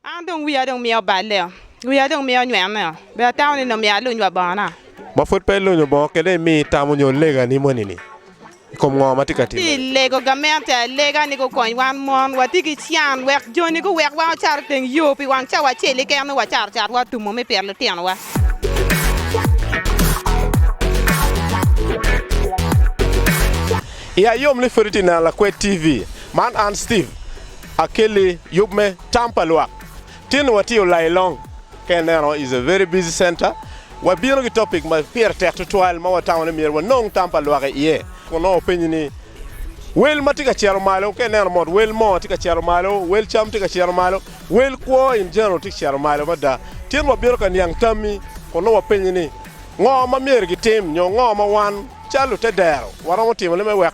An dong wiya dong mye oballe-o, wiya dong mye onywene-o, be atamo ni nongo myero aluny wa bongona? Ma pwod pe ilunyo bongo kede imi itamo nyo legani moni-ni i kom ngo ma tye ka timone? Atye ka lego gamente alega ni gukony wan mon. Watye ki can wek joni guwekwa wacar i teng yo pi wang cawa acel keken nongo wacaro carwa otumo me pito litinowa. Iya yom ni pwod itye neno Lakwed TV. Man an Steve. Akelli yub me tam pa lwak. Tin ni watye olailong ka ineno is a very busy center, wabino ki topic ma pire tek tutwal ma watamo ni myero wanong tam pa lwak i iye. Kun nongo openyi ni wel ma tye ka cito malo ka ineno mot wel moo tye ka cito malo, wel cam tye ka cito malo, wel kwo in general tye ka cito malo mada. Tin wabino ka niang tammi kun nongo wapenyi ni ngo ma myero gitim nyo ngo ma wan calo lute dero waromo timone me wek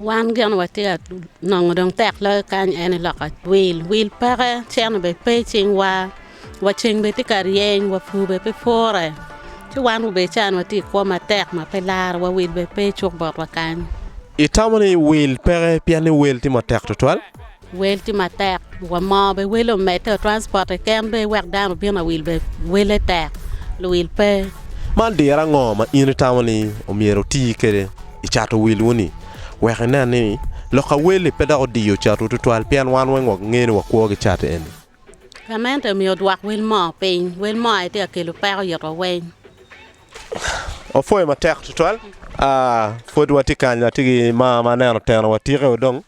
Wan gin watye ka nongo dong tek loyo kany en ni lok atwil, wil peke, cente bene pe i cingwa, wa ceng bene tye ka ryeny, wa pur bene pe pure, ci wan rubbe ca ni watye i kwo matek ma pe laro wa, wil bene pe cuk botwa kany. Itamo ni wil peke pien ni wel tye matek tutwal? Wel tye matek wa moo be wel omedde o transport keken be wek dano obin awil be wele tek luwil pe. Man diro ango ma in itamo ni omyero oti kwede i cato wilwu ni wek inen ni lok aweli pe dok odiyo catwu tutwal pien wan weng wangeyo ni wakwo ki cat eni. Gamente omyero odwok wel moo piny, wel moo aye tye ka kelo peko it wa weng. Wapwoyo matek tutwal, pwod watye kany watye ki maa ma aneno oteno wa tike wa dong.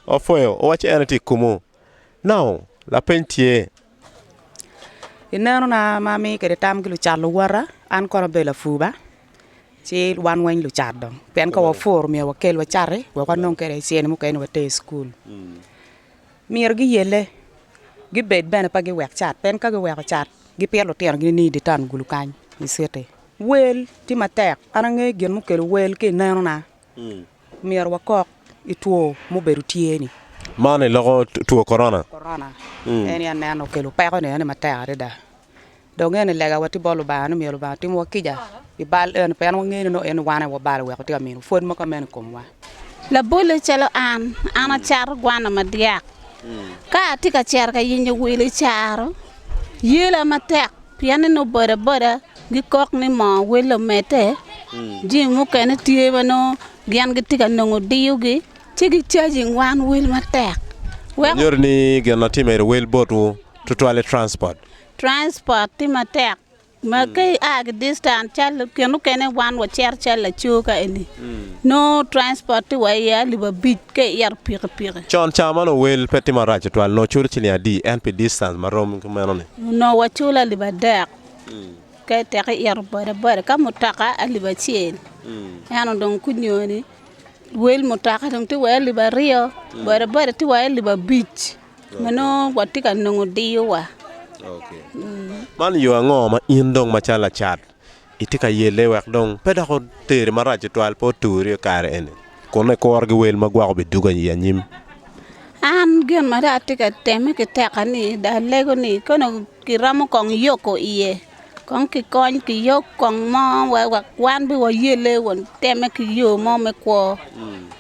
opwoyo owacci en aye tye i komu nongo lapeny tye, inenona ma amiyo kwede tam ki lucat luwota an kono abedo lapuba ci wan weng lucat dong pien ka wapuru myero wakel wacati wek wanong kwede cen mukene ni water i cukul myero giyelle gibed bene pe giwek cat pien ka giweko cat gipito lutinogi ni i dye tangulu kany i citi, wel tye matek an angeyo gin mukelo wel ki inenona. Myero wakok i two mubedo tye ni. Man i loko two korona. Korona eni aneno okelo peko ni eni matek adada. Dong nge ni lega wa tye bot Lubanga ni myero Lubanga tim wa kica i bal eni pien wange ni nongo eni wane wabalo weko tye ka mino pwod mogo meno i kom wa. Labole calo an, an acato gwana madyak. Ka atye ka cito ka yenyo wil i caro yela matek pien ni nongo boda boda. Gikok ni moo wel omedde. Jami mukene tye ma nongo gin gitye ka nongo diyogi, ci gicajing wan wel matek. Weko. Nyuto ni gin ma tye medo wel botwu tutwal ni transport. Transport tye matek ma ka ia ki distance calo kine mukene wan wacito calo laco ka eni nongo transport tye wa iye alip abic ka iito pikipiki. Con cawa ma nongo wel pe tye marac tutwal nongo iculo ciling adi ento pi distance ma rom ki meno ni? Nongo waculo alip adek. Ka iteke ito boda boda ka mutoka alip acel ento dong gunyoyo ni luel mutoka dong tye wai alip aryo boda boda tye wai alip abic ma nongo watye ka nongo diyo wa. Man yo ango ma in dong macalo lacat itye ka yelle wek dong pe dok oteri marac tutwal pe oturi kare eni kun ikuro ki wel ma gwoko biduga i anyim? An gin ma dong atye ka temme ki teka ni dong alego ni kong Kiromo kong yoko iye kong ki kony ki yok kong mo wek wan bene wayelle wa teme ki yo mo me kwo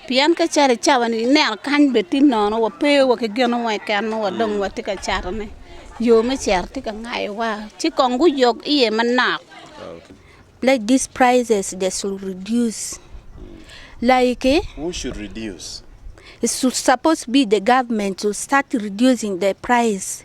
pien ka cato icawa ni ineno kany bene tye nono wa pe wa ki gin mo keken ma wa dong watye ka cato ne yo me cito tye ka ngayo wa ci kong guyok iye manok let this prices they should reduce like who should reduce it should suppose be the government to start reducing the price.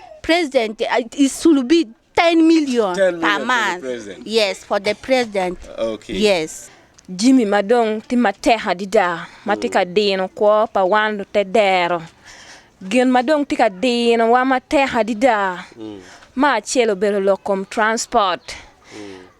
president uh, it should be 10 million 10 million per for the month. president. Yes, for the president. Okay. Yes. Jimi ma dong tye matek adada ma tye ka dino kwo pa wan lute dero. Gin ma dong tye ka dinowa matek adada me acel obedo lok kom transport.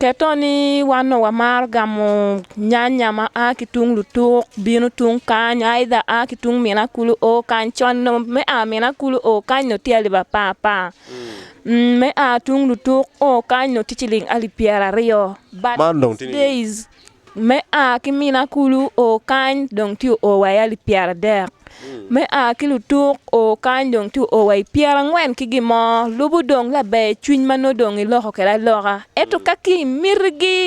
Keto ni wan onongo wamaro gamo nyanya ma a ki tung lutuk bino tung kany aidha a ki tung mina kulu o kany con onongo me a mina kulu o kany onongo tye alip apar apar me a tung lutuk o kany onongo tye ciling alip pyeraryo but these days Me a ki mina kulu o kany dong tye o wa i alip pyera dek me a ki lutuk o kany dong tye o wa i pyera angwen ki gin mo lubo dong laber cwiny ma nongo dong iloko kwede aloka ento ka ki miti gi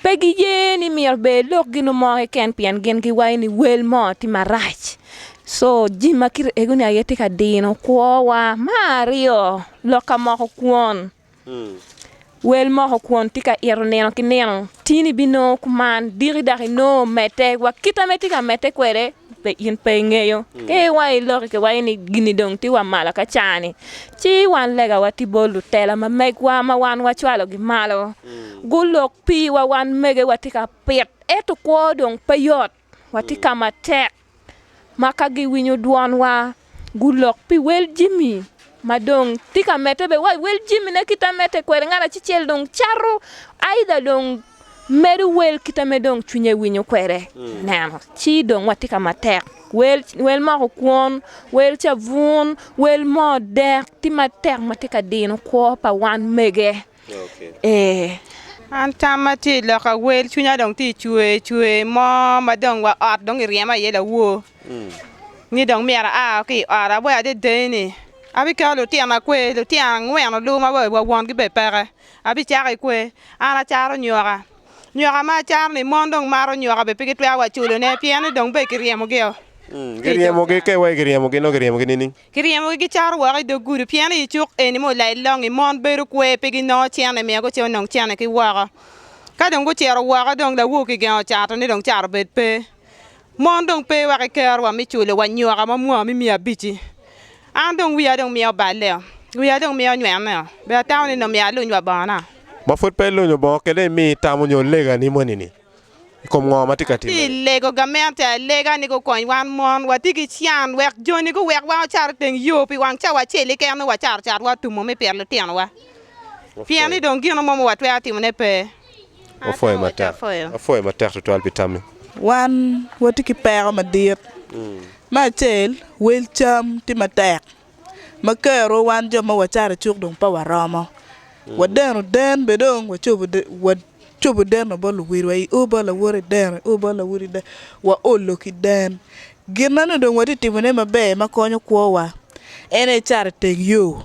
pe gi ye ni myero ber ilok gino mo keken pien gin gi waco ni wel mo tye marac so jami ma kiti ego ni aye tye ka dino kwo wa me aryo lok ka moko kwon. Wel moko kwon tye ka ito nino ki nino, tin ibinongo kuman diki dok inongo medde, wa kit ame itye ka medde kwede pe in pe ingeyo. Ka iwayo i loki kiwaci ni gini dong tye wa malo ka caa-ni, ci wan lega watye bot lutela ma megwa ma wan wacwalogi malo, gulok piwa wan mege watye ka pit, ento kwo dong pe yot. Watye ka matek ma ka giwinyo dwonwa, gulok pi wel jami ma dong tye ka medde bene. Wa i wel jamine kit ma medde kwede, ngat acel dong cato aidha dong medo wel kit ma dong cwinye winyo kwede. Ineno? Ci dong watye ka matek. Wel, wel moko kwon, wel cabun, wel moo dek, tye matek ma tye ka dino kwo pa wan mege. Ee. An tamma tye i lok awel, cwinya dong tye cwer cwer mo ma dong wa ot dong iryema iye lawor ni dong myero aa ki i ot. Awaco adada ni abiketo lutino akwe, lutino angwen oluma wa wa wongi bene peke abicako ki kwe. An acaro nyoka, nyoka ma acaro ni mon dong maro nyoka bene pe gitwero wa culone pien ni dong bene kiryemogi o. Giryemogi, ka iwaco kiryemogi nongo kiryemogi nining? Kiryemogi gicato woko i dog gudo, pien i cuk eni ma olayo longngi, mon bedo kwer, pe ginongo cene, miyo gucito nongo cene ki woko. Ka dong gucito woko, dong lawo kigengo cato ni dong cato obed pe. Mon dong pe wa ki kerowa me culo wa nyoka ma mwaka me miya abic-ci. An dong wiya dong miyo oballe-o, wiya dong miyo onywene-o, bene atamo ni nongo myero aluny wa bongona. Ma pud pe ilunyo bongo, kele imi itamo nyo legani moni-ni? i kom ngo ma tye ka timme. Pi lego gamente alega ni gukony wan mon wati ki can wek joni guwekwa wacar i teng yo pi wang cawa acel keken nongo wacaro cat wa tumo me pito litinowa pien ni dong gino mo ma watwero timone pe. Wapwoyo matek tutwal pi tammi. Wan wati ki peko madit. Me acel, wel cam tye matek. ma kero wan jo ma wacato icuk dong pe waromo. Wadeno den bene dong wacobo wacobo deno bot luwilwa i ur bot lawot i deno i ur bot lawot i deno waolo ki den. Gin ma nongo dong watye ka timone maber ma konyo kwowa en aye cat iteng yo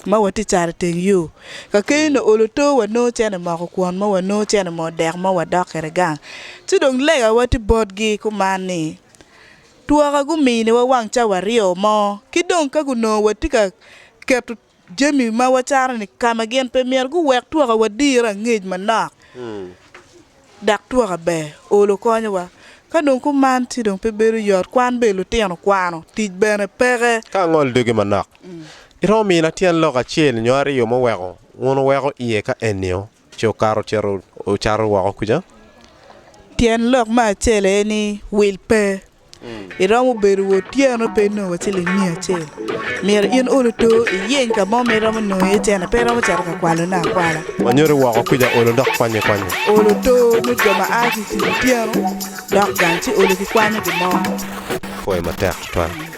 ma watye ka cat iteng yo. Ka keny onongo oolo oto wanongo cente moko kwon mo wanongo cente mo dek mo wadok kwede gang ci dong legawa tye botgi kuman ni Twaka guminiwa wang cawa aryo mo, ki dong ka gunongo watye ka keto jami ma wacano-ni ka ma gin pe myero, guwek twaka wadirre angec manok, dok twaka ber, olo konyowa. Ka dong kuman ci dong pe bedo yot, kwan bene lutino kwano, tic bene peke. Ka angolo dogi manok, iromo mina tyen lok acel nyo aryo muweko wun wuweko iye ka eni-o? Ce okato ocito ocato woko kuca. Tyen lok me acel aye ni wil pe. Iromo bedo wa otyeno pe inongo wa ciling miya acel. Myero in olo to iyeny ka mo ma iromo nongo iye cene pe iromo cito ka kwalone akwala. Wanyodi woko kuca olo dok kwanye kwanye. Olo to nyo jo ma a ki i tic otyeno dok gang ci olo ki kwanyo gin mo. Pwoyo matek tutwal.